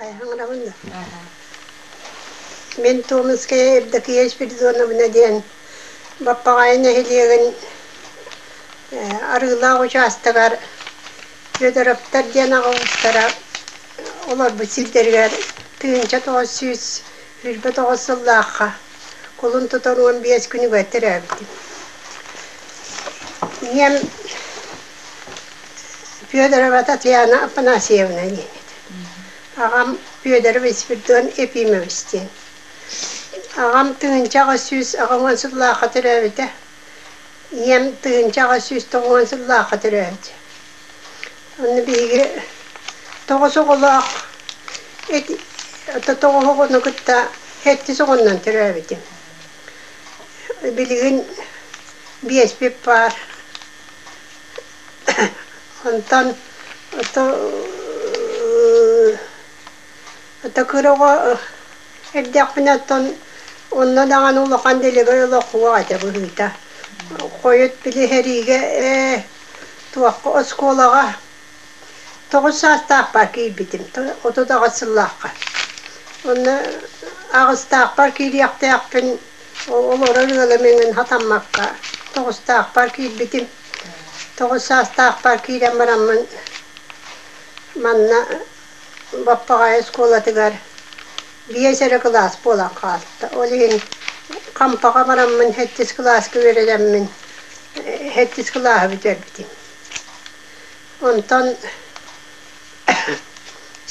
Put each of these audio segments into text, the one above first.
Айхаҥараҕын Мин Томская Евдокия Спиридоновна диэн Баппаҕайы нэһилиэгин Арыылаах учаастагар Федоровтар диэн аҕа уустара олорбут сирдэригэр тыһыынча тоҕус сүүс сүүрбэ тоҕус сыллаахха кулун тутан уон биэс күнүгэр төрөөбүтүм. Ийэм Федорова Татьяна Афанасьевна диэбит. Аҕам Федорова Спирдон Ефимович диэн. Аҕам тыһыынча аҕыс сүүс аҕа уон сыллаахха төрөөбүтэ. Ийэм тыһыынча аҕыс сүүс тоҕус уон сыллаахха төрөөбүтэ. Онно биһиги тоҕус оҕолоох эт тоҕус оҕону кытта сэттис оҕоннон төрөөбүтүм. Билигин биэспит паар Онтон ото ото кыраҕа эрдэхпинэ оттон онно даҕаны улахан дэлэгэй олохуох этэ быһыыта. Хойут били сэриигэ ээ туохха оскуолаҕа Тоҕус саастаахпар киирбитим. Отут аҕыс сыллаахха. Онно аҕыстаахпар киириэхтээхпин олорор ыалым эҥин хатаммакка тоҕустаахпар киирбитим. Тоҕус саастаахпар киирэн бараммын манна Баппаҕай оскуолатыгар биэс эрэ кылаас буолан хаалта. Ол иһин Хампаҕа бараммын сэттис кылааска үөрэнэммин сэттис кылааһы бүтэрбитим. Онтон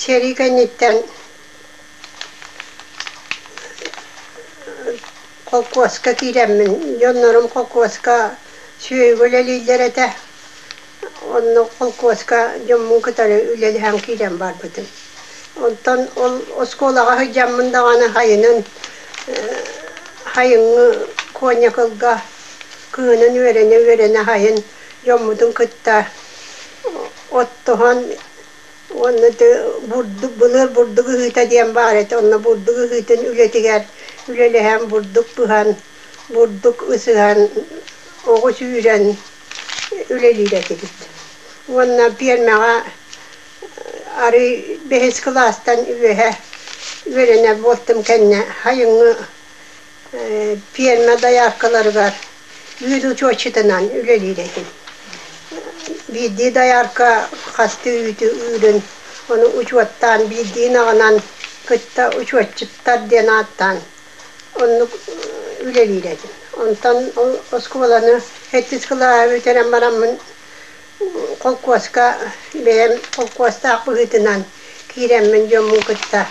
сэрии кэнниттэн холкуоска киирэммин, дьоннорум холкуоска сүөһүгү үлэлииллэр этэ. Онно холкуоска дьоммун кытары үлэлэһэн киирэн барбытым. Онтон ол оскуолаҕа сылдьаммын даҕаны хайынын хайыҥҥы коньякылга кыһынын үөрэнэ-үөрэнэ хайын дьоммутун кытта оттоһон уонна бурдук былыыр бурдук ыһыыта диэн баар этэ онно бурдук ыһыытын үлэтигэр үлэлэһэн бурдук пыһан бурдук ысыһан оҕу сүүрэн үлэлиир этибит уонна пиэрмэҕэ арый бэһис кылаастан үөһэ үөрэнэр буолтум кэннэ айыҥҥы пиэрмэ дояркаларыгар үүт учуотчутунан үлэлиир этим. Биирдии доярка хас да үүтү ыырын, ону учуоттаан биирдиин аҕынан кытта учуотчуттар диэн ааттаан оннук үлэлиир этим. Онтон оскуоланы эттис кылааһы бүтэрэн бараммын холкуоска бэйэм холкуостаах быһыытынан киирэммин дьоммун кытта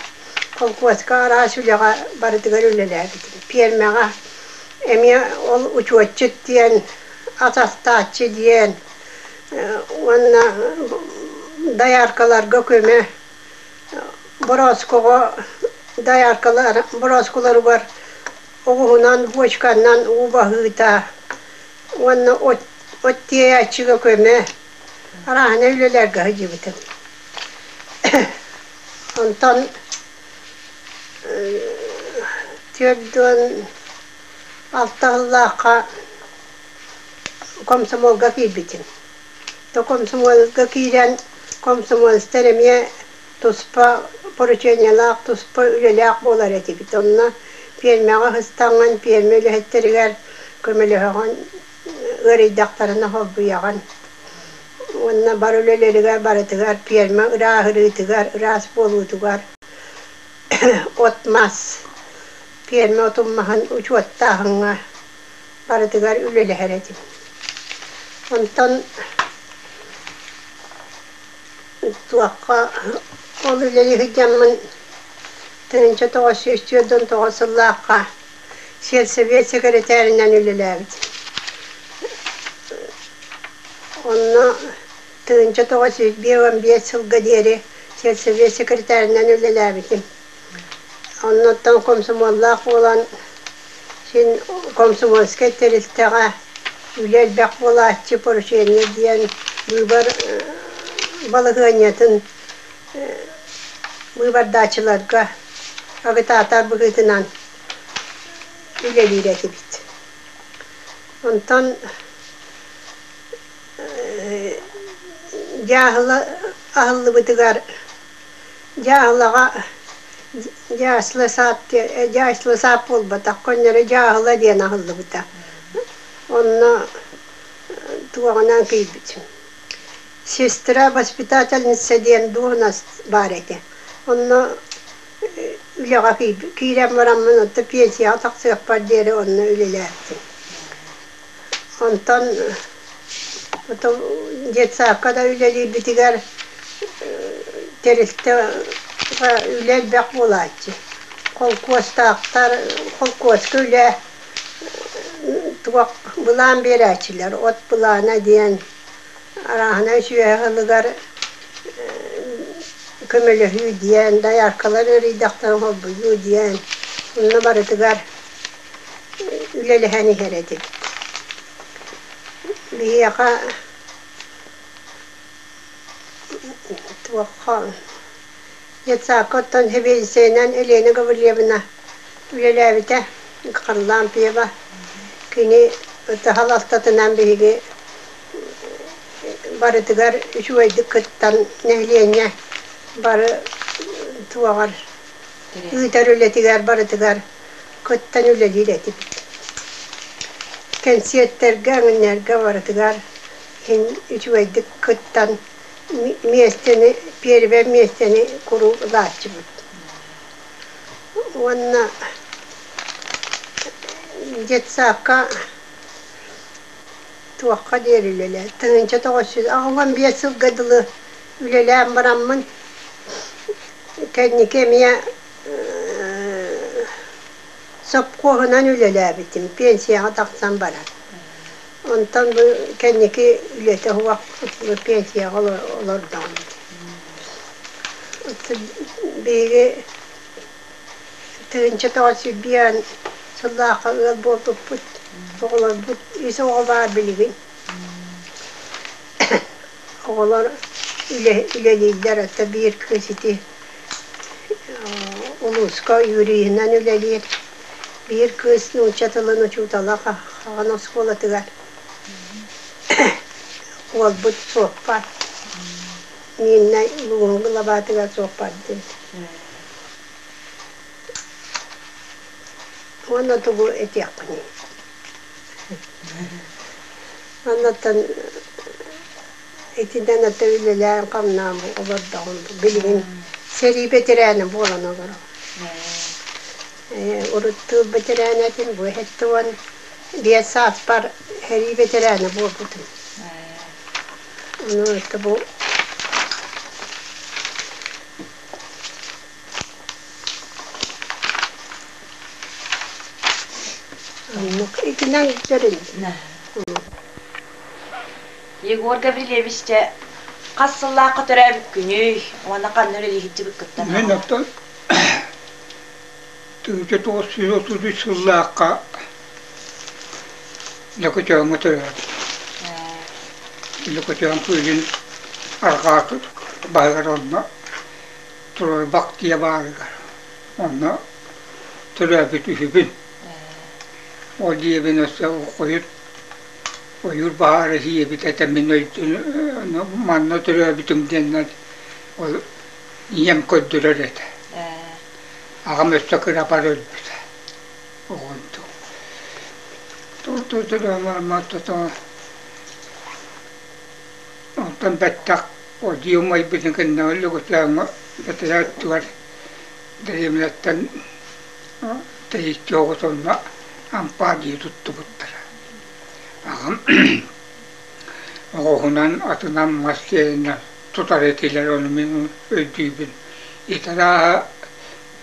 холкуоска араас үлэҕэ барытыгар үлэлээбитим пиэрмэҕэ эмиэ ол учуотчут диэн ат астааччы диэн уонна дояркаларга көмө борооскоҕо дояркалар борооскуларугар оҕуһунан бочканнан уу баһыыта уонна от, от тиэйэ аччыга көмө арааһына үлэлэргэ сылдьыбытым. Онтон түөрт уон алта сыллаахха комсомолга киирбитим. То комсомолга киирэн комсомолецтар эмиэ Туспа поручениелаах, туспа үлэлээх буолар этибит. Онно пиэрмэҕэ ыстаҥҥын, пиэрмэ үлэһиттэригэр көмөлөһөҕүн, ыарыйдахтарына холбуйаҕын. Уонна бар үлэлэригэр барытыгар, пиэрмэ ырааһырыытыгар, ыраас буолуутугар от-мас, пиэрмэ отуммаһын учуоттааһыҥҥа барытыгар үлэлэһэр этим. Онтон Туохха ол үлэлии сылдьаммын тыһыынча тоҕус сүүс түөрт тоҕус сыллаахха сельсовет сэкирэтээринэн үлэлээбит. Онно тыһыынча тоҕус сүүс биир уон биэс сылга диэри сельсовет сэкирэтээринэн үлэлээбитим. Оннуттан комсомоллаах буолан, син комсомольскай тэрилтэҕэ үлэ элбэх буолааччы поручение диэн быыбар балаһыанньатын быыбардааччыларга агытаатар быһыытынан үлэлиир этибит. Онтон дьааһыла аһыллыбытыгар Дьаһалаҕа дьаасла саап дьаасла саап буолбатахха онньоро дьааһыла диэн аһыллыбыта онно туоҕунан кыйбыт сестра воспитательница диэн дуоһунас баар этэ онно үлэҕэ киирэн бараммын отто пенсияҕа тахсыахпар диэри онно үлэлээбитим Онтон потом детсаакка да үлэлиирбитигэр тэрилтэҕэ үлэ элбэх буолааччы. Холкуостаахтар, холкуоска үлэ туох былаан биэрээччилэр от былаана диэн арааһынай сүөһү ылыгар көмөлөһүү диэн, дояркалар ыарыйдахтарын холбонуу диэн, онно барытыгар үлэлэһэн иһэр этим. Биһиэхэ туохха детсадка оттон сэбиэдиссэйинэн Елена Гаврильевна үлэлээбитэ Харлампьева. Кини ытыһал алтатынан биһиги барытыгар үчүгэйдик кыттан нэһилиэнньэ бары туоҕар ыытар үлэтигэр барытыгар кыттан үлэлиир этибит. Кэнсиэртэргэ, оонньуурга барытыгар иһин үчүгэйдик кыттан миэстэни, первое миэстэни куруук ылааччыбыт. Уонна детсаакка туохха диэри үлэлээн, тыһыынча тоҕус сүүс, аҕам биэс сылга дылы үлэлээн бараммын, кэнники эмиэ Сопхуоһунан үлэлээбитим, пенсияҕа тахсан баран. Онтон бу кэнники үлэтэ суох пенсияҕа олордоҕум. Биһиги тыһыынча тоҕус сирбиэн сыллаахха ыал буолбуппут, оҕолорбут, ис оҕо баар билигин. Оҕолор үлэлииллэр, это биир кыыс ити улууска юриһынан үлэлиир, биир кыыс нуучча тылын учуутала Хаҕан оскуолатыгар уолбут суоппар, Нина Луоҥу лабаатыгар суоппардыыр. Уонна тугу этиэххиний Оннуттан итинэн аты үлэлээн-хамнаан олордоҕум. Билигин сэрии бэтэрээнэ буолан олором. Э, Уруттуур бэтэрээнэ этим, бу эһэтти уон биэс сааппар эрии бэтэрээнэ буолбутум. Ону ытты бу Оннук итинэн тэрилинэ. Егор Гаврильевич, дьэ, хас сыллаахха төрөөбүт күнүй? Уонна ханна үлэлиһиччибит кыттан? Мен это тысяча тоғыз жүз отуз үс сыллаахха Лөкөтөөҥҥө төрөөбүт. Лөкөтөөҥ кыыгын арҕаа баһыгар онно Турарбах дьиэ баарыгар. Онно төрөөбүт үһүбүн. Ол дьиэбин өссө ойуур ойуур баһаара ийэбит этэ мин ойуур манна төрөөбүтүм диэннэр ол ийэм көрдүрэр этэ. Аҕам өссө кырабар өлбүтэ. Оҕом туту төрөөмөр маттото. Онтон бэттэх Одьуйа майбытын кэннэ Лөгөтөөҥҥө бэтэрээ өттүгэр дэриэбинэттэн тэйиччи оҕотонно ампаар дии туттубуттара. Аҕам оҕоһунан, атынан, мас сиэнинэн тутар этилэр, ону мин өйдүүбүн. Итара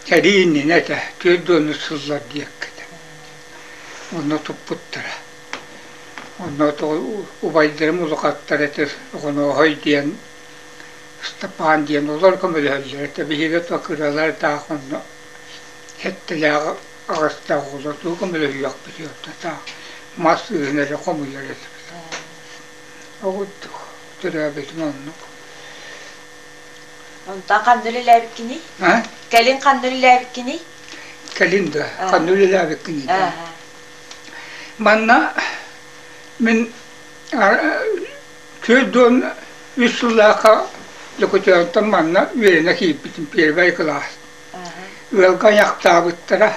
сэрии иннинэ этэ, түөрт дуонус сыллар диэккэтэ. Онно туппуттара. Онно убайдарым улахаттар этэ Оҕонооһой диэн, Ыстапаан диэн олор көмөлөһөллөр этэ. Биһиги то кыралардаах онно сэттэлээх аҕастаах оҕолор дуу көмөлөһүөхпүт таах мас ыыһын эрэ хомуйар этибит. Ол курдук төрөөбүтүм оннук. Онтон ханна үлэлээбиккиний? Кэлин ханна үлэлээбиккиний? Кэлин да ханна үлэлээбиккиний да? Манна мин түөрт уон үс сыллаахха Лөкөтөөҕүттэн манна үөрэнэ киирбитим первай кылаас. Ыалга айахтаабыттара.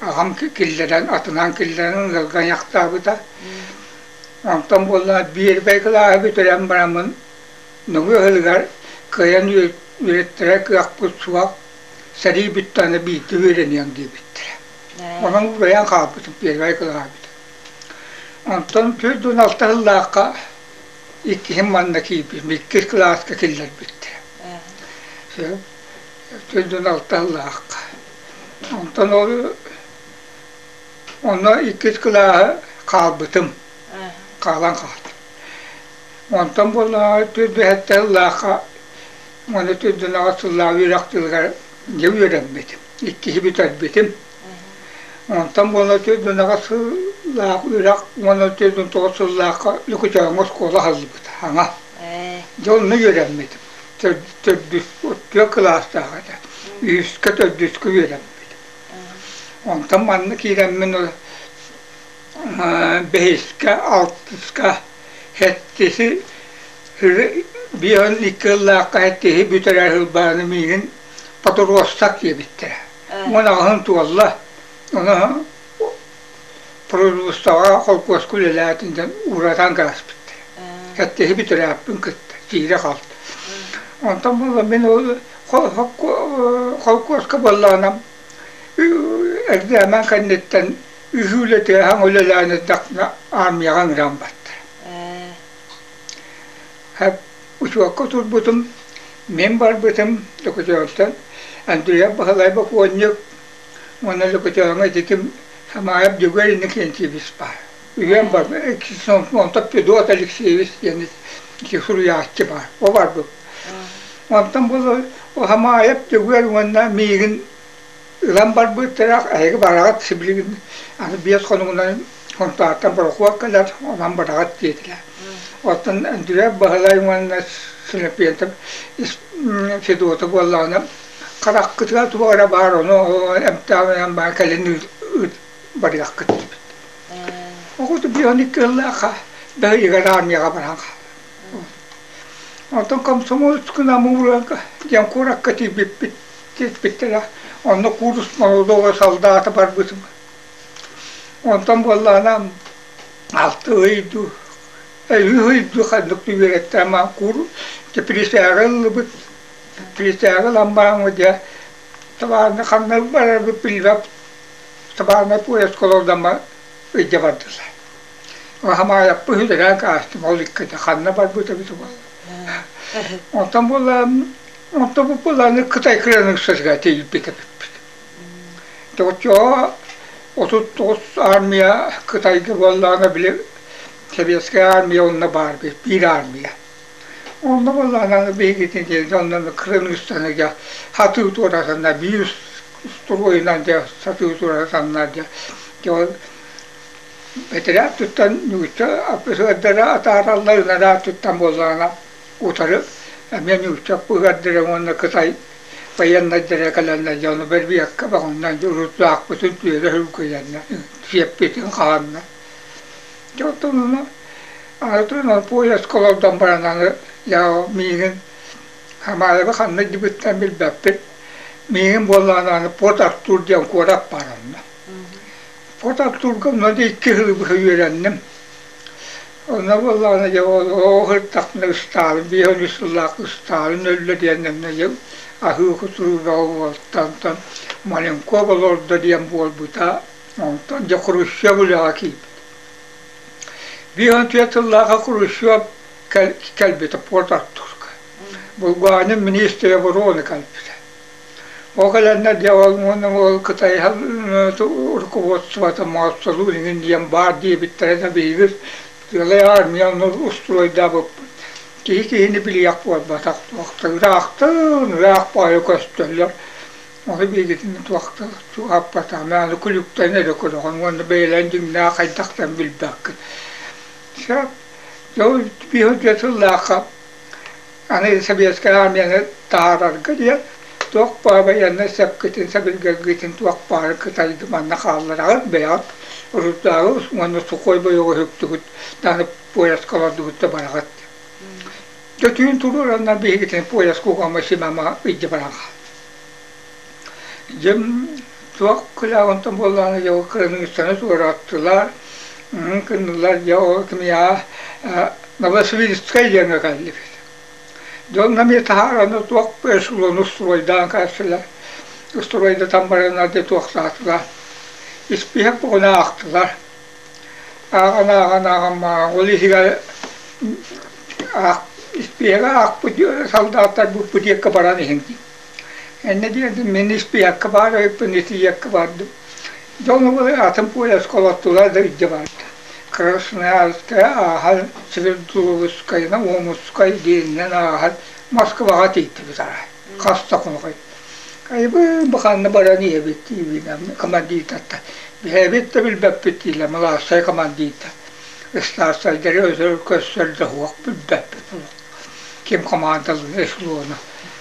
Аҕам киллэрэн, атынан киллэрэн ыалга айахтаабыта. Онтон буолла биэрбэй кылааһы бүтэрэн бараммын Нугу ыһыгар кыайан үөрэттэрэ кыахпыт суох сэрии бүттэ аны биирдэ үөрэниэм диэбиттэрэ. Маһын уурайан хаалбыт, первай кылаабыт. Онтон төрт уон алта сыллаахха иккиһин манна киирбитим, иккис кылааска киллэрбит. Төрт уон алта сыллаахха. Онтон ол онно иккис кылааһы хаалбытым. Хаалан хаалбытым. Онтон буоллаҕа төрт бэһэтте сыллаахха уонна төрт уон алта сыллаах үөрэх дьылыгар дьэ үөрэммитим. иккиһи бүтэрбитим. Онтон уон төрдүнэҕэ сыллаах үрэх уон төрдүн тоҕус сыллаахха Лукучооҥҥо оскуола аһыллыбыта аҥа. Дьэ онно үөрэммитим. Төрдүс төрт кылаастаах этэ. Үһүскэ төрдүскэ үөрэммитим. Онтон манна киирэммин бэһискэ, алтыска хэттиси биир икки ыллаахха хэттиси бүтэрэр ылбааны миигин Подуруостак диэбиттэрэ. Уон аҕыһын туолла. Ону производствоҕа холкуоска үлэлээтин дьон ууратан гааспыттара. Кэттиһи бүтэрээппин кытта тиирэ хаалта. Онтон буолла мин холкуоска буоллаанам эрдээмэн кэнниттэн үһүү үлэтээһин үлэлээн эрдэхпинэ армияҕа ыҥыран баттара. Учуокка турбутум, мин барбытым Лөкөтөөнтөн Андреев Баһылай бокуонньук уонна Лөкөтөөҥҥө ититим Хамаайап Дьөгүөр Иннокентьевич баар. Үһүөн бар Сонтоп Федот Алексеевич диэн ити суруйааччы баар. О барбыт. Онтон бу Хамаайап Дьөгүөр уонна миигин Ылан барбыт тирэх эһиги бараҕыт сибилигин аны биэс хонугунан Хонтааттан борохуот кэлэр, онон бараҕыт диэтилэр. Оттон Өндүрэй Баһылай уонна Силипиэнтэп ис Федота буоллаҕына хараххытыгар туох эрэ баар ону эмтээбинэн баар кэлин ыыт барыаххыт диэбит. Оҕото биир он икки ыллаахха бэһигэр армияҕа баран хаалла. Оттон комсомольск намуурга диэн куоракка тиийбиппит Кетпиттэрэ. Онно куурус молодого солдата барбытым. Онтон буоллаана алты ыйду, үһү ыйду ханнык үөрэттэмэ куур присяга ыллыбыт. Присяга ламбааҥы дьэ табааны ханна барарбыт билбэп. Табааны поезд колодама ыйда бардылар. Лахамаайаппы үһүдэрään каастым ол иккитэ ханна барбыта бит буолла. Оттон буоллаам Онто бу быланы Кытай кыранык сыга тилпик эпиппит. Тотчоо отут тоҕус армия Кытайга буоллаҕына били Советская армия онно баар бит, биир армия. Онно буоллаҕына биһигитин диэн онно кырыныыстаныга хатыы туоратанна биир строенан дьэ сатыы туоратаннар дьэ бэтэрээ туттан нүгүччү сыгардара атаараллар ынараат туттан буоллаҕына утары эмиэ ньуучча быһыардара уонна кытай байыаннайдара кэлэннэр дьэ ону бэрбиэккэ баҕаҥнан урутлаахпытын түөрэ һүлгүйэннэр сиэппитин хаанна дьэ оттон ону атын ол поездка олордон баран аны яо миигин Хамаайаба ханна дьыбыттан билбэппин миигин буоллаҕына аны Порт Артур диэн куорат баар онно от оттуурга маны икки сылы быһа үөрэнним. Онно буоллаҕына дьэ оо сырдахпына устаалым, биир он үс сыллаах устаалым нөллө диэннэннэ дьэ аһыы-кутуруу бөҕө буолтантан Маленков олордо диэн буолбута, онтон дьэ Хрущев үлэҕэ киирбит. Биир он түөрт сыллааҕы Хрущев кэл кэлбитэ Пуорт Артурга. Булгураанын министрэ оборона кэлбитэ. Ол кэлэннэр дьэ ол уонна уол кытай рукубуотсубата Моссолуун иҥин диэн баар диэбиттэрэ да биһигир тыалай аармыйа ону устуруойдаабыппыт. Киһи киһини билиэх буолбатах, туохта ыраахтан ыраах баайа көстөллөр. Ону биһигитин туохта чугааппатаҕым, аны күлүктэн эрэ көрөҕүн уонна бэйэлээн дьиҥнээх хайдахтан билбэккин. Дьэ, дьэ сыллаахха Аны Сэбиэскэй Аармыйаны таһаарарга диэн туох баар байыаннай сөпкүтүн, сэбиргэлгитин туох баары кытайды манна хааллараҕыт, бэйэҕит урутааҕы уонна сухой бойоҕу үһүктүгүт, аны поезка олордугут да бараҕыт. Дьэ түүн туруораннар биһигитин поезд кугама-симама ыйдьа баран хаал. Дьэ туох кылааҕы онтон буоллаҕына дьэ ол кырыныгыстаны туорааттылар мм гыннылар дьэ ол кимиэхэ аа Новосибирскай диэҥҥэ кэллибит дьэ ол эмиэ таһаараны туох бэс уулуун устуруойдаан кэлсилэр устуруойдатан бараннар дьэ туохтаатылар испииһэк бугуна аахтылар ааҕан ааҕан ааҕан ааҕан ол иһигэр аах испииһэги аахпыт салдааттарбыт бутикка баран иһин Энна диэбитим, мин испиякка баар өйүппүн итийиэккэ бардым. Дьон убай атын поезка олоттулар да илдьэ барда. Красноярскай ааһан Свердловскайынан Омскай диэнинэн ааһан Москваҕа тиийдибит арай. Хас да хонук Айбыыр бу ханна баран ийэбит диибинэ командирдартан бэйэбит да билбэппит диилэр малаастай командирдар. Ыстаастайдары өсөр көссөр да суох билбэппит олох. Ким командалыыр эшелону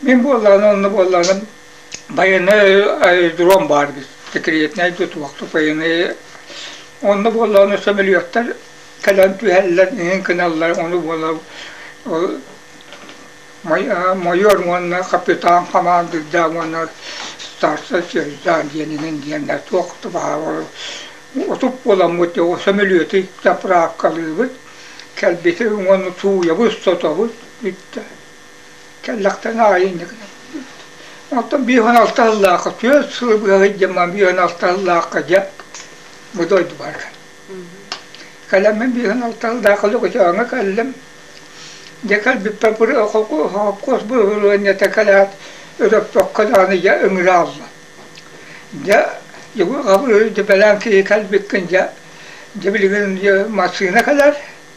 Мин буоллаҕына онно буоллаҕына байанай аэродром баар секретнэй тутуохтук байанай онно буоллаҕына сөмөлүөттэр кэлэн түһэллэр иһин гыналлар ону буола ол майор уонна капитан хамаандыырдаах уонна старшай сержант диэн иһин диэннэр туох да баҕа отут буоламмыт дьоҕу сөмөлүөтү заправкалыыбыт кэлбитин уонна сууйабыт сотобут бүттэ Кэллэхтэн аайы инньэ Оттон биир уон алта сыллаахха түөрт сыл быһа сылдьаммын биир уон алта сыллаахха дьэ бу дойдубарга. Кэлэммин биир уон алта сыллаахха Лугучааҥҥа кэллим. Дьэ кэлбиппэр бу холкуос бырабылыанньата кэлээт Өрөппөххө даҕаны дьэ ыҥыраалла. Дьэ дьиҥи хабыр дьэ бэлэм киһи кэлбиккин дьэ дьэ билигин массыына кэлэр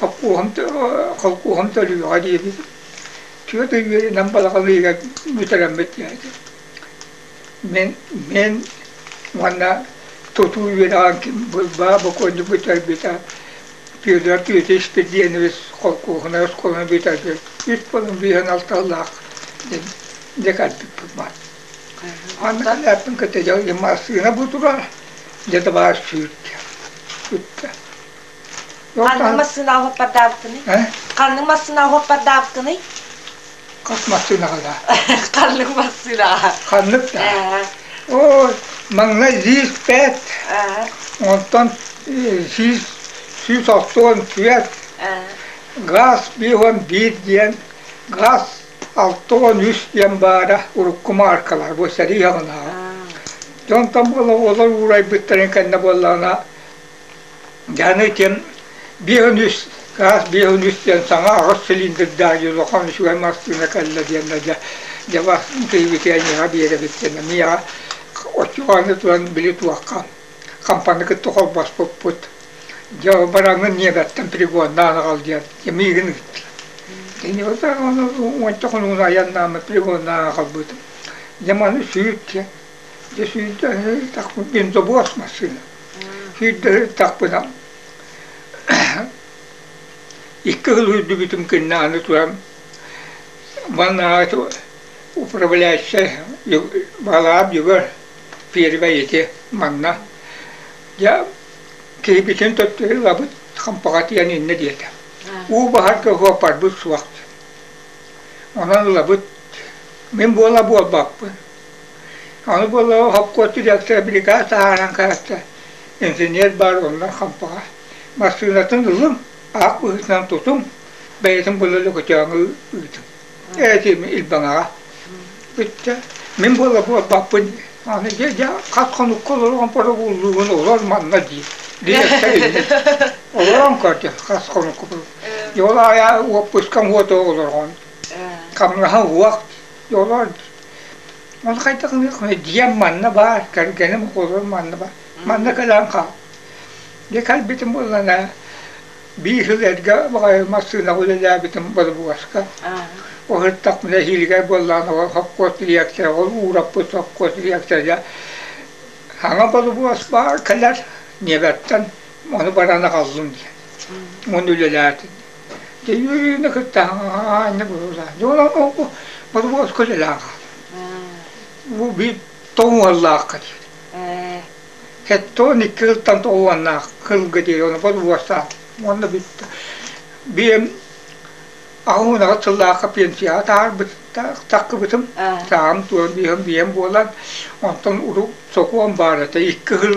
холкуоһум холкуоһум төлүүҕэ диэри түөрт ый үөрэнэн балаҕан ыйыгар бүтэрэммит диэки мин мин уонна тутуу үөрэҕин Быылбаа бокуонньук бүтэрбитэ Петр Петрович Перденович холкуоһунай оскуоланы бүтэрбит үс балын быйан алталаах декарпыппыма аны халлааппын кытыйал массыына бутура дедовар сүүрдэ Ханнык массыына уһаппардаабыккыный? Ханнык массыына уһаппардаабыккыный? Хас массыынаҕа да? Ханнык массыынаҕа? Ханнык да? Ой, маҥнай сүүс пять, онтон сүүс сүүс остуон түөрт, газ bir on bir диэн газ алта уон үс диэн баара урукку мааркалар бу сэрии аҕынааҕы. Дьонтон буола олор уурайбыттарын кэннэ буоллаҕына Дьааны итиэн биэһин үс гаас биэһин үс диэн саҥа аҕыс цилиндирдээх дьулухан үчүгэй массыына кэллэ диэннэ дьэ дьэ бастыҥ киһибит эйиэхэ биэрэбит диэнэ миэхэ оччоҕону туран били туохха хампаны кытта холбоспуппут дьэ бараҥҥын ньиэбэттэн пригоннаан аҕал диэн дьэ миигин ыыттылар Итини ытаан уонча хонугун айаннааммыт пригоннаан аҕалбытым. Дьэ маны сүүт Дьэ сүүрдэрин ыттахпын диэн добуос массыына сүүрдэрин ыттахпына икки хыл үрдүбүтүм кэннэ аны туран ваннааҕы управляющай балаам бүгэр первэй ити манна дьэ кирбитин төттөрү лабыт хампаҕа тиийэн иннэ диэтэ уу баһарга уоппарбыт суох онон лабыт мин буола буолбаппын Аны буоллаҕа хопкуот дириэктэрэ билигаат ааһан кэҕистэ. Инженер баар оннун хампаҕа. Массыынатын ылыҥ, аах быһыытынан тутуҥ, бэйэтин була лөкөтөөҥҥө ыытыҥ. Ээтиим илбэҥэҕэ. Бүттэ. Мин буола буолбаппын. Аны дьэ дьэ хат-хонукка олорон боробууллуугун олор манна дии. Дириэктэр иннэ. Олорон көрдө хас хонукка. Дьэ ол аайы уоппускам уоту олорҕон. Хамнаһа уох. Олор ол хайдах дьиэм манна баар, кэргэним оҕолорум манна баар. Манна кэлэн хаал. Дьэ кэлбитим буоллана биир сыл эргэ баҕайы массыынаҕа үлэлээбитим борбуоска. Ол сырдах нэһиилигэр буоллаҕына ол сопхуос директора, ол уураппыт сопхуос директора саҥа борбуос баар кэлэр, ньиэбэттэн ону баран аҕаллым диэн. Уон үлэлээтим. Дьиҥи кытта анна быһыылаах. Дьонон ол борбуос көлөлөөх. Бу бит тоҥуоллаах кыт. Кэттон икки ылтан тоҕуаннаах кылгы дии оны борбуостаах. Онно бит биэм аһуунаҕа тыллаахха пенсияҕа таарбыт таккыбытым саам туон биэм биэм буолан онтон урут сокуон баарата икки хыл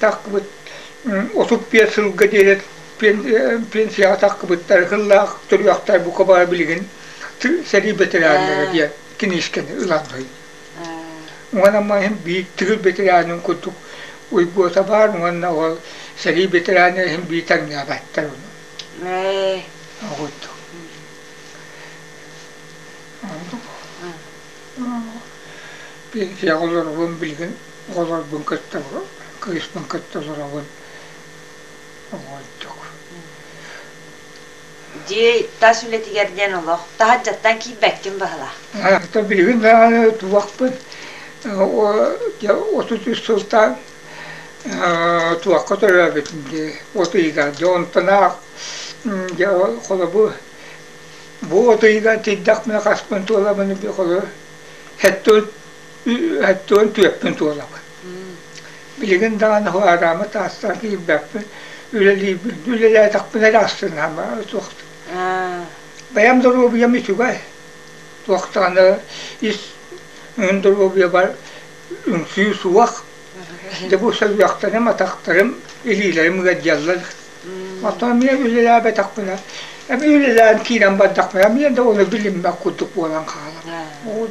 тахкыбыт отут биэс сылга диэри пенсияҕа тахкыбыттар сыллаах төрүөхтэр бука бара билигин сэрии бэтэрээннэрэ диэн киниискэни ыланный уонна маһын биир тыгыр бэтэрээнин курдук уйгуота баар уонна ол сэрии бэтэрээнэ иһин биир таҥнаабаттар ону пенсияҕа олоробун билигин Оҕолорбун кытта кыыспын кытта олоробун. Оҕойдук. Дьиэ тас үлэтигэр диэн олох таһырдьаттан киирбэккин баһылаах. Хата билигин даҕаны туохпут отут үс сылтан туохха төрөөбүтүм дии от ыйыгар дьэ онтунаах дьэ холобу бу от ыйыгар тиийдэхпинэ хаспын туоламын холобу хэттэ өттүгүн түөппүн туолабын. Билигин даҕаны хаараамы таастан киирбэппин, үлэлиибин. Үлэлээтэхпинэ эрэ астынаама суох. Бэйэм доруобуйам үчүгэй. Туохтааны ис доруобуйабар үҥсүү суох. Дьэ бу сөбүөхтэрим, атахтарым, илиилэрим ыаддьаллар. Оттон эмиэ үлэлээбэтэхпинэ, эмиэ үлэлээн киирэн бардахпына, эмиэ да оны билиммэт курдук буолан хаалабын. Ол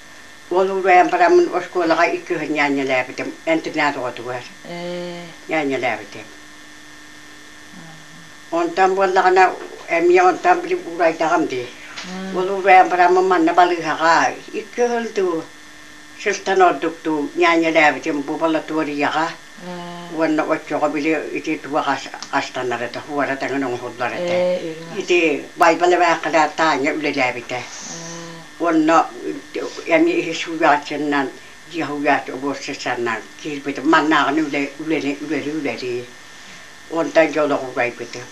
Уол убайан бараммын оскуолаҕа икки күн ньаанньалаабытым, интернат оҕотугар ньаанньалаабытым. Онтон буоллаҕына эмиэ онтон били уурайдаҕым дии. Уол убайан бараммын манна балыыһаҕа икки ыһыл дуу, сылтан ордук дуу ньаанньалаабытым бу болотуоруйаҕа. уонна оччоҕо били ити туга хастанар этэ уора тэҥин оҥоһуллар этэ ити байбал эбээхилэ таанньа үлэлээбитэ уонна эмиэ иһи сууйааччыннан дьиэ сууйааччы обуорсаччаннан киирбитим маннааҕыны үлэли үлэлии онтон дьэ олох угайбытым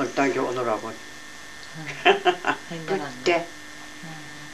онтон дьэ олоробун бүттэ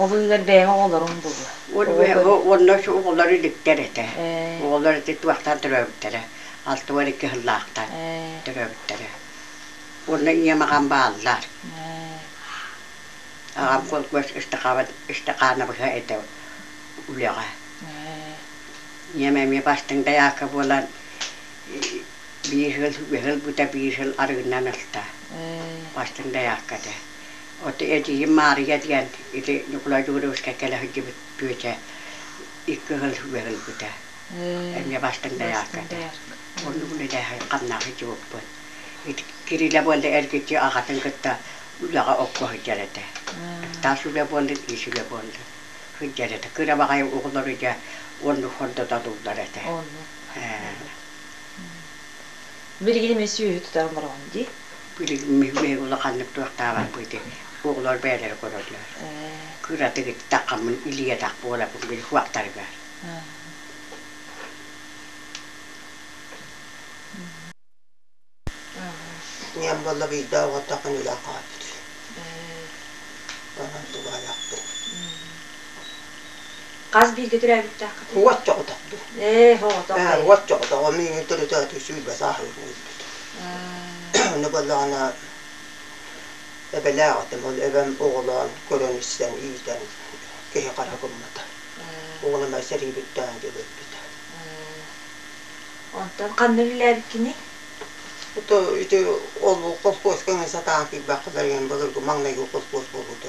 Ол ыыр бэйэҕэ оҕолоруҥ дылы. Уонна оҕолор иликтэр этэ. Оҕолор ити туохтан төрөөбүттэрэ. Алта уон икки сыллаахтар төрөөбүттэрэ. Уонна ийэм аҕам бааллар. Аҕам колхоз ыстакаанабыһа этэ үлэҕэ. Ийэм эмиэ бастыҥ дайаакка буолан биир сыл үһүс сыл бута биир сыл арыгынан ылта. Бастыҥ дайаакка этэ. От эдьиийим Маарыйа диэн ити Ньукулай Дьугуровскай кэлэ сылдьыбыт күөдьэ икки кыһыл үөл ылбыта. Эмиэ бастыҥ доярката. Оннугун илээһи хамнаах сдьубуппут. Ити Кирилэ буолла эргиччи аҕатын кытта үлэҕэ окко сылдьар этэ. Таас үлэ буолла, тиис үлэ буолла. Сылдьар этэ. Кыра баҕайы оҕолору дьэ оннук хордотолууллар этэ. Э Билигин эмиэ сүөһү тутарын бороҕон дии. Билигин улаханнык туохтаабаппын ити оҕолор бэйэлэрэ көрөллөр. Кыратык иттэххэ мин илиэтэх буолабын били куоктарыгар. Ийэм буолла биирдэ оҕотохон үлэ хааппыт. Онон тугаалахпын. Хас бииргэ төрөөбүттээххит? Уот чоҕотох дуу? Ээ, хоҕотох. Ээ, уот чоҕотох. Миигин төрүтөөтүү сүүрбэ сааһыгын өлбүт. Ону боллаҕына эбэлээх этим. Ол эбэм оҕолоон көрөн-истэн, иитэн киһи хара гыммыта. Уолум сэрии бүттэҕин дьыл өлбүтэ. Онтон ханна үлэлээбиккиний? Ото ити ол колхуос кэннэ сатаан киирбэх кыларыйан былыргы маҥнайгы колхуос буолбута.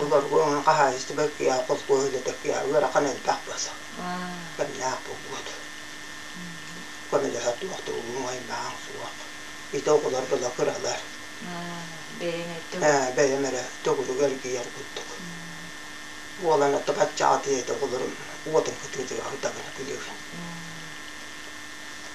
Олоргуон хаһаайыстыба кия холкуоһуна теккия ыарахан элбэх баса. Кэмнээх булгут. Көмөлөһө туохтугуҥ айбаан суох. Ити оҕолор дала кыралар. Бэйэм эрэ төгүрүг эргийэр курдук. Буолан отто баччааты эт оҕолорум уотун кытыытыгар утабына күлүгүн.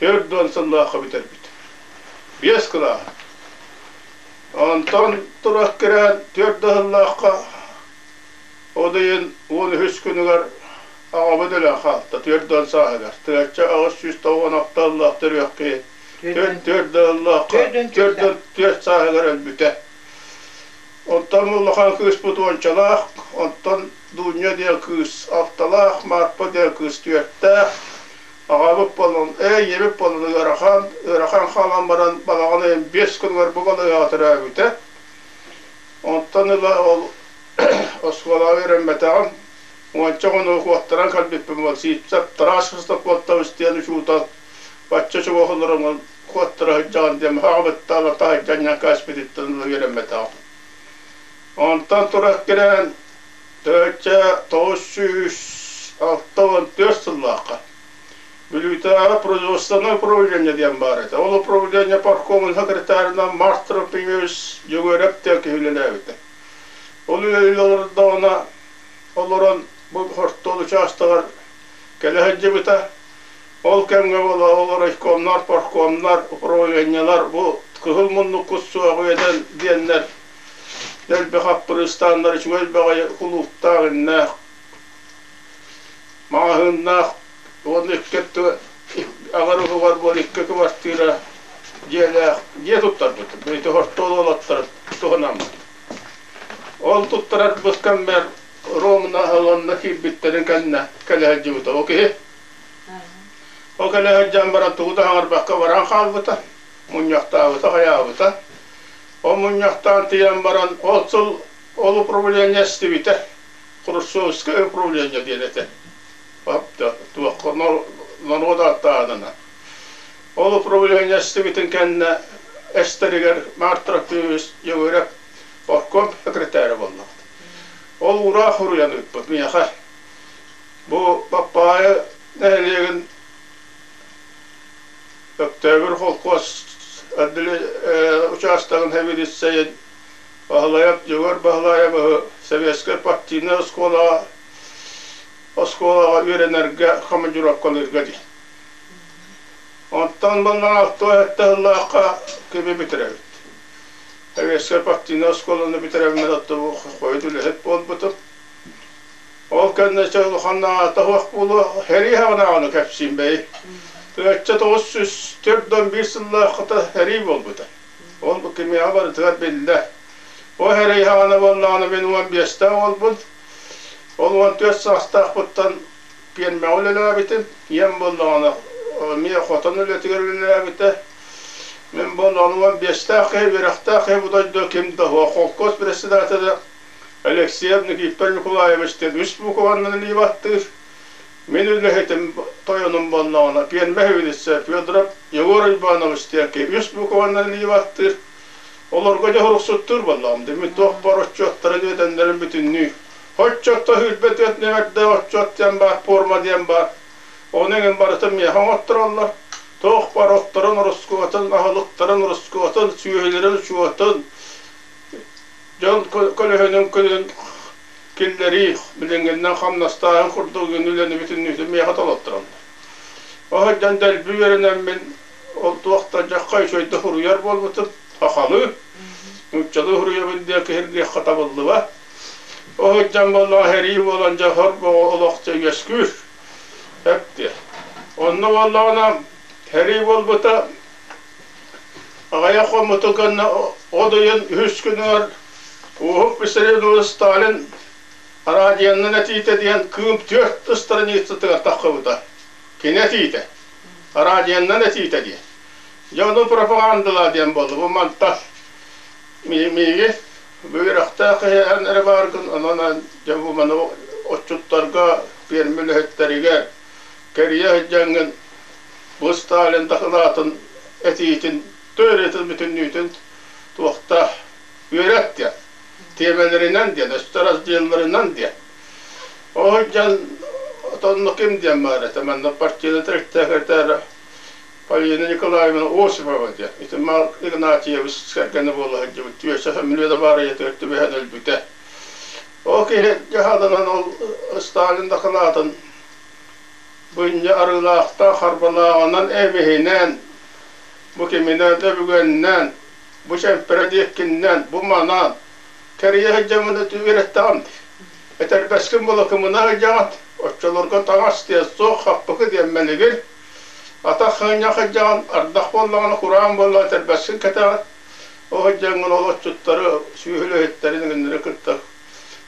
Төрт уон сыллаахха бүтэрбит. Биэс кылааһын. Онтон тура кирээн төрт да сыллаахха ол ыйын он үһүс күнүгэр аҕабыт өлөн хаалта төрт уон сааһыгар. Тыачча аҕыс сүүс тоҕуон алта ыллаах төрүөх киһи төрт төрт да ыллаахха төрт уон түөрт сааһыгар өлбүтэ. Оттон улахан кыыспыт уончалаах, оттон Дуунньа диэн кыыс алталаах, Марпа диэн кыыс түөртээх, Аҕабыт Полон, ээ, ийэбит Полон ыарахан, ыарахан хаалан баран балаҕан ыйын биэс күнүгэр бу балаҕаҕа төрөөбүтэ. Онтон ыла ол оскуолаҕа үөрэммэтэҕим. Уонча хонугу куоттаран кэлбиппин уол Сивцев Тарааш Христофортович диэн учуутал бачча чугас олороҥҥун куоттара сылдьаҕын диэн аҕабыттаан таһырдьа анньан кээспититтэн ыла үөрэммэтэҕим. Онтон тура кэлэн Төрүччэ тоҕус сүүс алта уон түөрт сыллаахха Бүлүүтээҕи производственное управление диэн баар этэ. Ол управление паркомун секретарынан Мастропиус Дьөгүөрэп Текев үлэлээбитэ. Ол үлэлэрдээҕинэ олорон бу хортуол учаастагар кэлэ сылдьыбыта. Ол кэмҥэ була ол райкомнар, паркомнар, управлениелар бу кыһыл муннук кут суох үөдэн диэннэр Элбэх аппырыыстааннар үчүгэй баҕайы кулууптаах иннээх, маҕаһыыннаах уонна икки өттүгэр аҕар уһугар буол икки кыбартыыра дьиэлээх дьиэ туттарбыт. Ити хортуола олоттор туһанаммыт. Ол туттарарбыт кэммэр Ромна Аланна киирбиттэрин кэннэ кэлэ сылдьыбыта. Ол киһи ол кэлэ сылдьан баран тугу да хаҥарбакка баран хаалбыта, мунньахтаабыта, хайаабыта. Ол мунньахтаан тиийэн баран, ол сыл ол управление эстибитэ, Хрущевское управление диэн этэ. Туохха норуот ааттааһынынан. Ол управление эстибитин кэннэ эстэригэр Март Трофимович Егорев оркуом секретаря буоллаҕыт. Ол ураа хоруйан ыыппыт миэхэ. Бу Папайы нэһилиэгин Өктөөбүр холкуос учаастагын хэбириссэйин Баһылайап Дьөгөр Баһылаайабы Сэбиэскэй партийнай оскуолаҕа оскуолаҕа үөрэнэргэ командировкалыырга дии. Онтон баллаҕа тоҕус эрдэ сыллаахха киби бүтэрэбит. Сэбиэскэй партийнай оскуоланы бүтэрэбин оттубу хойут үлэһит буолбутум. Ол кэннэ улаханнааҕа тоһуох буолуо, хэрии-хаҕынааҕыны кэпсиим бэйи. Ычча тоҕус сүүс төрт уон биир сыллаахыта хэрии буолбута. Ол кимиэхэ барытыгар биллэр. Ол хэрии-хаҕына буоллаҕына мин уон биэстээх уолбун. Ол уон түөрт саастаахпыттан пиэрмэҕэ үлэлээбитим. Ийэм буоллаҕына эмиэ хотон үлэтигэр үлэлээбитэ. Мин буоллаҕына уон биэстээх киһи, үөрэхтээх киһи, бу дойду ким да, холкуос председателэ Алексей Никитов Николаевич диэн үс буукубаннан илии баттыыр. Мин үлэһитим тойонум буоллаҕына пиэрмэ хөвилиссэ Федоров Егор Иванович диэн киһи үс буукубаннан илии баттыыр. Олорго дьоһуруксуттуур буоллаҕым дии. Мин туохпар отчуоттары диэтэннэрин бүтүннүү. Отчуотта сүүрбэ түөрт нүөмэрдээх отчуот диэн баар, пуорма диэн баар. Ону эҥин барытын миэхэ оҥоттороллор. Туохпар отторун, ороскуотун, аһылыктарын, ороскуотун, сүөһүлэрин учуотун, Дьон көлөһүнүн күнүн киллэрии билиҥҥиннэн хамнастааһын курдук үлэни бүтүннүүтүн миэхэ толотторон. Оһойдон дэлби үөрэнэммин ол туох да дьахха үчүгэй да суруйар буолбутум, сахалыы, нууччалыы суруйабын диэн киһиргиэххэ табыллыба. Оһойдон буоллаҕа сэрии буолан дьэ сор олох дьэ үөскүүр. Эптиэ. Онно буоллаҕына сэрии буолбута Аҕайа хоммутун кэннэ от ыйын үһүс күнүгэр Уоһук Писарин уол Сталин араадьыйанан этиитэ диэн Кыым түөрт страницатыгар тахсыбыта. Кини этиитэ, араадьыйанан этиитэ дии. Дьэ ону пропагандалаа диэн буолла. Бу мантан мииги бу үөрэхтээх иһээн эрэ бааргын, онон дьэ бу маны отчуттарга, пиэрмэ үлэһиттэригэр, кэрийэ сылдьаҥҥын бу Сталин дакылаатын этиитин, төрүөтүн бүтүннүүтүн туохта үөрэт диэн, тиэмэлэринэн диэн, өстөросдьыалларынан диэн. Ол сылдьан отонно ким диэн баар этэ, манна партийный секретарь Полина Николаевна Осипова диэн, ити Марк Игнатьевич кэргэнэ буола сылдьыбыт, түөсэ familia да баар ийэ төрүт түбэһэн өлбүтэ. Ол киһи дьаһалынан ол Сталин дакылаатын Бынньа арыылаахтаах харбалааҕынан эбиһинэн, бу киминэн да бүгүннэн, бу чэмпэрэ диэккиннэн, бу манан, тэрийэ сылдьаммын үөрэттэҕим. Этэрбэскин былакымынан илдьэҕин, оччолорго таҥас диэн суох хаппыкы диэн мэлигир, атах хыынньа сылдьаҕын, ардах буоллаҕына кураан буоллаҕына этэрбэскин кэтэҕин, ол сылдьаҥҥын ол отчуттары, сүөһүлэһиттэрин үҥүннэрэ кыттар.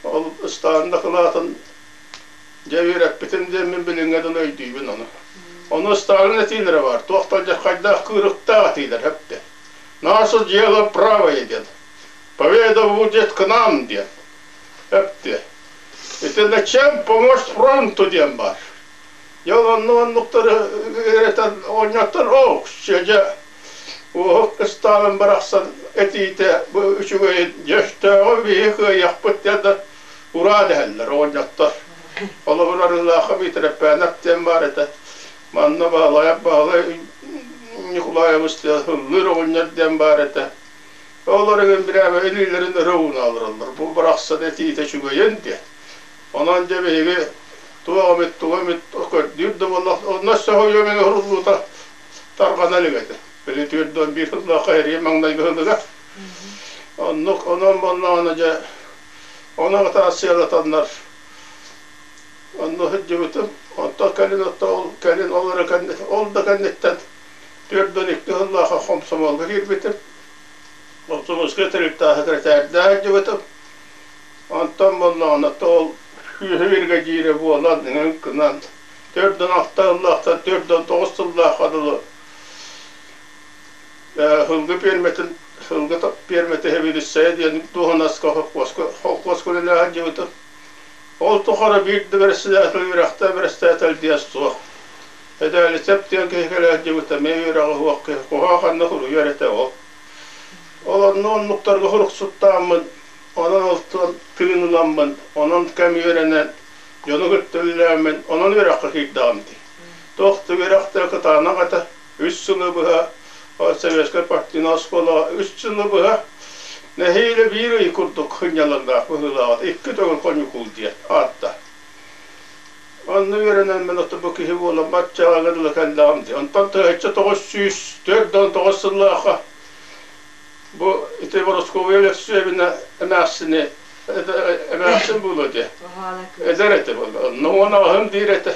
Ол ыстаан дакылаатын Дьэ үөрэппитим диэммин билиҥҥэ дылы өйдүүбүн ону. Ону ыстаалын этиилэрэ баар, туох да хайдах кыырыктаах этиилэр эптэ. Наше дело правое диэн. Поведа будет к нам диэн эптэ. Итиннэ чем помочь фронту диэн баар. Дьол онну оннуктары үйрэтэн оонньоттор оо дьэ уоһук ыстаалын барахсан этиитэ үчүгэйин дьөштөөҕү биһи кыайахпыт диэн да ураа дэһэллэр оҕонньоттор. Холобур, Арыылаахха Миитирэппээнэп диэн баар этэ. Манна Баһылай Баһылай Ньукулаайабыс ыллыыр оҕонньор диэн баар этэ. Олор ыгын бирээбэ илиилэрин ыры ууна олороллор. Бу барахсан этиитэ үчүгэйин диэн. Онон дьэ биһиги туох эмит, туох эмит көрдүүр да буолла, онно сөһүйүөм эҥэ уруллуута тарҕанан игэтэ. Били түөрт уон биир сыллаахха эрийэ маҥнайгы сылыга. Оннук, онон буоллаҕына дьэ Оны атаасыалатаннар онно сылдьыбытым. Онтон кэлин ол кэлин ол эрэ кэннит ол да кэнниттэн түөрт он икки сыллааха хомсомолго киирбитим. Хомсомолскай тэрилтэ секретардаах илдьибитим. Онтон буоллаҕына ол күүһэ биргэдьиирэ буолан өҥ гынан төрт он алта сыллаахтан төрт он тоҕус сыллааха дылы Һылгы пиэрмэтин Һылгы пиэрмэтэ Хевелицая диэн дуоһунаска холкуоска холкуоска үлэлээһин дьыбыта. Ол тухары биир да бэрэссэдээтэл үөрэхтээх бэрэссэдээтэл диэн суох. Эдээлисэп диэн киһи кэлээт дьыбыта эмиэ үөрэҕи суох киһи куһаа ханна суруйар этэ ол. Ол онно оннуктарга суруксуттааммын, онон алтан тыын ыламмын, онон кэм үөрэнэн, дьону кытта үлэлээммин, онон үөрэххэ киирдэҕим дии. Туох да үөрэхтээ кытаанах этэ. үс сылы быһа Советскай партийнай оскуолаҕа үс сылы быһа нэһиилэ биир ый курдук сынньалаҥнаах быһыылааҕа икки төгүл хоньукул диэн аатта. Онно үөрэнэн мин бу киһи буолан баччааҕы дылы кэллэҕим дии. Онтон тыһыынча тоҕус сүүс төрт да он тоҕус сыллаахха бу ити Борускуобуйа Өлөксүөбүнэ эмээхсини эмээхсин буолуо диye. Эдэр этэ буолла. Онно уон аҕаһым диир этэ.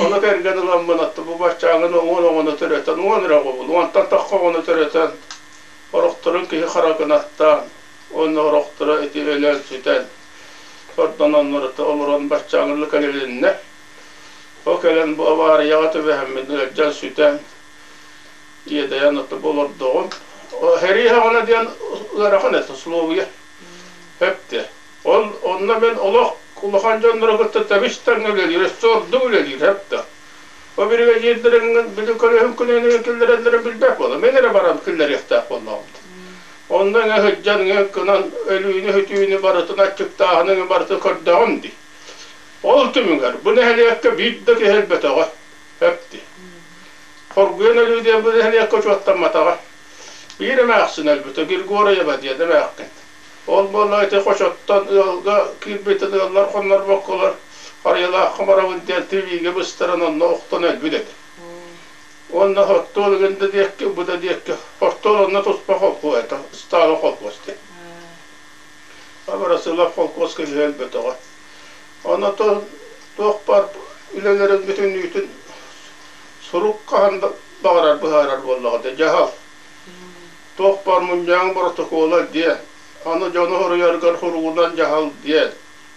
Ону тэринэн ыламмын, атта бу баччааҥҥын уҥун-оҥоно төрөтөн, уҥан эрэ оҕобун, уҥантан тахха оҕону төрөтөн, орохторун киһи хара гынаттаан, уонна орохторо ити өлөн сүтэн, ордононнорута олорон баччааҥҥылы кэлилиннэ. Ол кэлэн бу аварияҕа түбэһэммин ыалдьан сүтэн, иэдэйэн отто бу олордоҕум. Херии хаҕана диэн ыарахан этэ, условия. Өп да. Он, онно мин олох улахан дьоннору кытта табыстаҥҥа үлэлиир, сорду үлэлиир эп да. О бригадирдэрин били көрөһүн күнүнэн киллэрэллэрин билбэт буолам. Мен эрэ баран киллэриэхтээх буоллаҕым. Онно эҥэ сылдьан, эҥэ кынан өлүүнү-хүтүүнү барытын аччыктааһыныҥы барытын көрдөҕүм дии. Ол түмүгэр бу нэһилиэккэ биир да киһи өлбөтөҕө эпти. Хоргуйан өлүү диэн бу нэһилиэккэ учуоттамматаҕа. Биир эмээхсин өлбүтэ, Григорьева диэн эмээхсин. Ол буолла ити хочоттон ыалга киирбитин ыаллар хоннорбокколор Харыйалаах Хоморобун диэн тириигэ быстаран онно охтон өлбүт этэ. Уонна оттуол ыгын да диэкки, бу да диэкки, оттуол онно туспа холкуос этэ, ыстаала холкуос диэн. Абарасылап холкуоска киһи өлбөтөҕө. Ону то туох бар үлэлэрин бүтүннүүтүн сурук хаһан да баҕарар быһаарар буоллаҕа да дьаһал. Тохпор мунньаҕын боротокуола диэн, аны дьону хоруйаргар суругунан дьаһал диэн,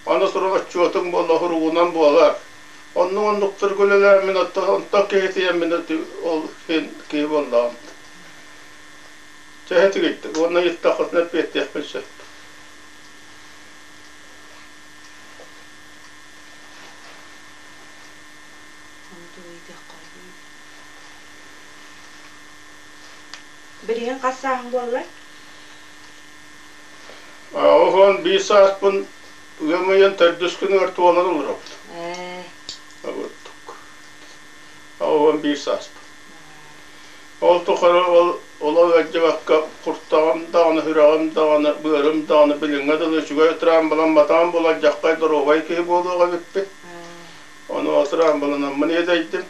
аны сурах отчуотуҥ буолла суругунан буолар. Оннук-оннуктарга үлэлээн мин онтон киһитийэммин ол син киһи буоллаҕым. Чэһэ тигиттик уонна ыйыттаххытына эппиэттиэхпин сөп. Ону тугу ыйытыахха Билигин хас сааһын буолла? Охон биир сааспын ыам ыйын төрдүс күнүгэр туолан олоробут. Ээ. Абыттык. Охон биир сааспын. Ол тухары ол ула ыалдьыбакка куртаҕым даҕаны, сүрэҕим даҕаны, быарым даҕаны билиҥҥэ дылы үчүгэй утрамбылан матаан булар дьаххай доруобай киһи буолуох эбиппин. Ону ол утрамбылынан мын иэдэйдим.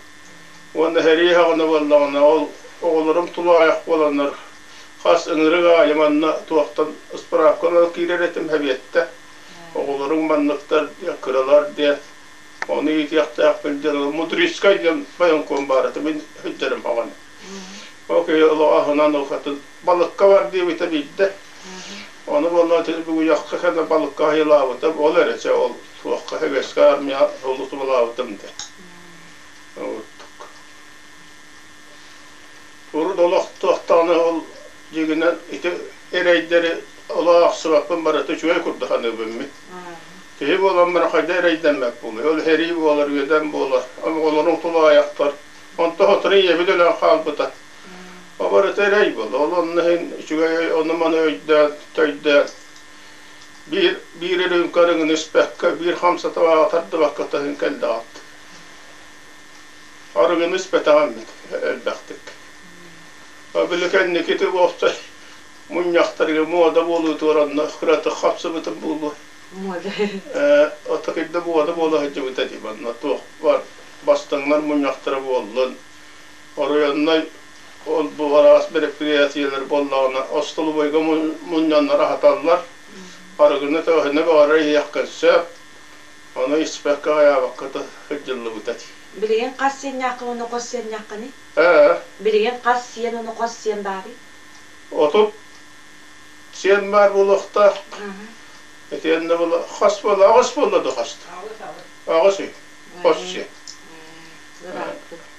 Уонна сэрии саҕана буоллаҕына, ол оҕолорум тулаҕайах буоланнар, хас ыҥырык аайы манна туохтан справка ылан киирэр этим сэбиэттэ. Оҕолорум манныктар диэн, кыралар диэн, ону иитиэхтээхпин диэн, ол Мудрицкай диэн военком баар этэ, мин сылдьарым баҕаны. Ол киһи олоҕо аһынан укатын балыкка бар диэбитэ биирдэ. Ону буоллаҕа итини бүгуйахха кэннэ балыкка айылаабытым, ол эрэ чэ ол туохха үгэскэ армия сулусубалаабытым дэ. Ордук. Урут олох туохтаҕына ол дьиҥинэн ити эрэйдэри олох ахсыбаппын барыта үчүгэй курдук саныыбыммын. Киһи буолан баран хайда эрэйдэммэт буолуй. Ол эрий буолар, үөдэн буолар. Оҕолорун тулаайахтар. Онто сотору ийэбит өлөн хаалбыта. О барыта эрэй буолла. Ол онно иһин үчүгэй ону-маны өйдөөн, төйдөөн Биир биир үрүүмкэ өрүҥүн испэккэ, биир хамсатыбаҕа тардыбакка көһөн кэллэҕит. Орүгүн испэтэҕиммит элбэхтик. О били кэнникити уопсай мунньахтарга муода буолуутугар онно кыратык хапсыбытым буолуо. Муода. Э, отакыйда муода буола сылдьыбыта дии, манна туох бар бастыҥнар мунньахтара буоллун, оройуоннай ол бу араас бэрэпириэнсийэлэр буоллаҕына остолобуойга мунньаннара аһаталлар. Арыгыны-өһүнү баҕарар иһиэххин сөп. Ону испэккэ-аҕыйаабакка сылдьыллыбыта дии. Билигин хас сиэннээххин уонна хос сиэннээххиний? Ээ. Билигин хас сиэн уонна хос сиэн баарый? Отут сиэн баар буолуохтаах. Итиэннэ була хас буола аҕыс буолла да хаста? Аҕыс аҕыс. Аҕыс сиэн. Хос сиэн.